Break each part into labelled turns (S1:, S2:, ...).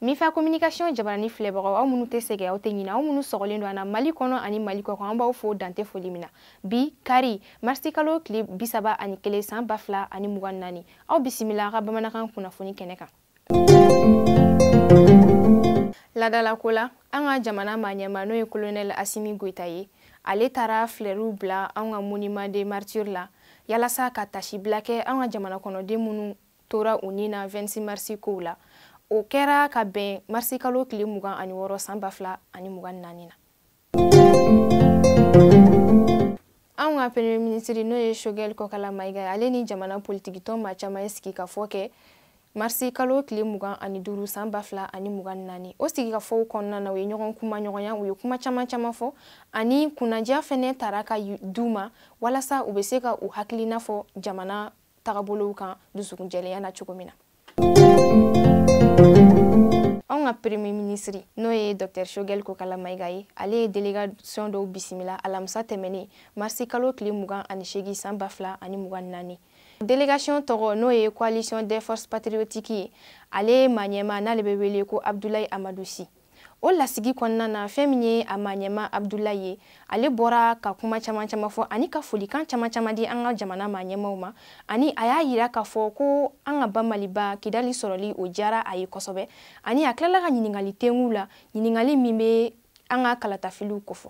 S1: mifa communication jabarani filɛbagaw aw minnu tɛ sɛgɛ aw tɛ ɲina aw minnu sɔgɔlen don an na mali kɔnɔ ani mali kɔkan an b'aw fo dan tɛ foli min na bi kari marisikalo tile bisaba ani kelen san ba fila ani mugan naani aw bisimila ka bamanankan kunnafoni kɛnɛ kan laadalako la an ka jamana maɲɛma n'o ye kolonɛl asimi goyita ye ale taara filɛriw bila anw ka monument des martyrs la yalasa ka taasibila kɛ an ka jamana kɔnɔden minnu tora u ni na 26 marisi kow la o kɛra ka bɛn marisikalo tile mugan ani wɔɔrɔ san ba fila ani mugan naani na anw ka premier minisiri n'o ye shogɛl kokala mayiga ye ale ni jamana politikitɔn ma caman ye sigikafɔ kɛ marisi kalo tile mugan ani duuru san ba fila ani mugan ni naani o sigikafɔw kɔnɔna na u ye ɲɔgɔn kumaɲɔgɔnya u ye kuma caman caman fɔ ani kunnadiya fɛnɛ tara ka d'u ma walasa u bɛ se ka u hakilina fɔ jamana tagabolow kan dusukun jɛlenya na cogo min na anw ka premier minisiri n'o ye dr shogel kokala mayiga ye ale ye delegation dɔw bisimila alamisa tɛmɛnen marisi kalo tile mugan ani seegin san ba fila ani mugan ni naani delegation tɔgɔ n'o ye coalition des forces patriotiques ye ale maɲɛma n'ale bɛ wele ko abdulayi amadu si o lasigi kɔnɔna na fɛn min ye a maɲɛma abdulayi ye ale bɔra ka kuma caman caman fɔ ani ka folikan caman caman di an ka jamana maɲɛmaw ma ani a y'a yira k'a fɔ ko an ka ba maliba kidali sɔrɔli o diyara a ye kosɛbɛ ani a tilala ka ɲininkali tengu la ɲininkali min bɛ an ka kalatafiliw kofɔ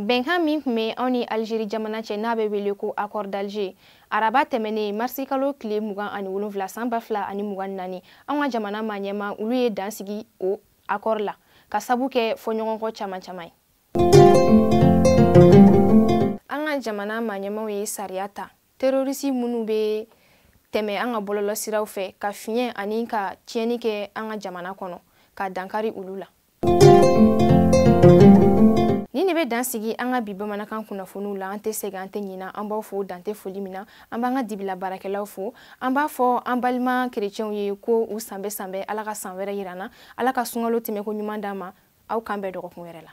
S1: bɛnkan min tun bɛ anw ni alizeri jamana cɛ n'a bɛ wele ko accord d'alger araba tɛmɛnen marisi kalo tile mugan ani wolonwula san ba fila ani mugan ni naani anw ka jamana maɲɛma olu ye dan sigi o accord la ka sabu kɛ fɔɲɔgɔnkɔ caman caman ye an ka jamana maɲɛmaw ye sariya ta terorisi minnu bɛ tɛmɛ an ka bɔlɔlɔsiraw fɛ ka fiɲɛ ani ka tiɲɛni kɛ an ka jamana kɔnɔ ka dankari olu la nin de bɛ dan sigi an ka bi bamanankan kunnafoniw la an tɛ sɛgɛn an tɛ ɲina an b'aw fo dan tɛ foli min na an b'an ka dibila baarakɛlaw fo an b'a fɔ an balima kerecɛnw ye ko u sanbɛɛ sanbɛɛ ala ka san wɛrɛ yira an na ala ka sunkalo tɛmɛko ɲuman d'an ma aw k'an bɛn dɔgɔkun wɛrɛ la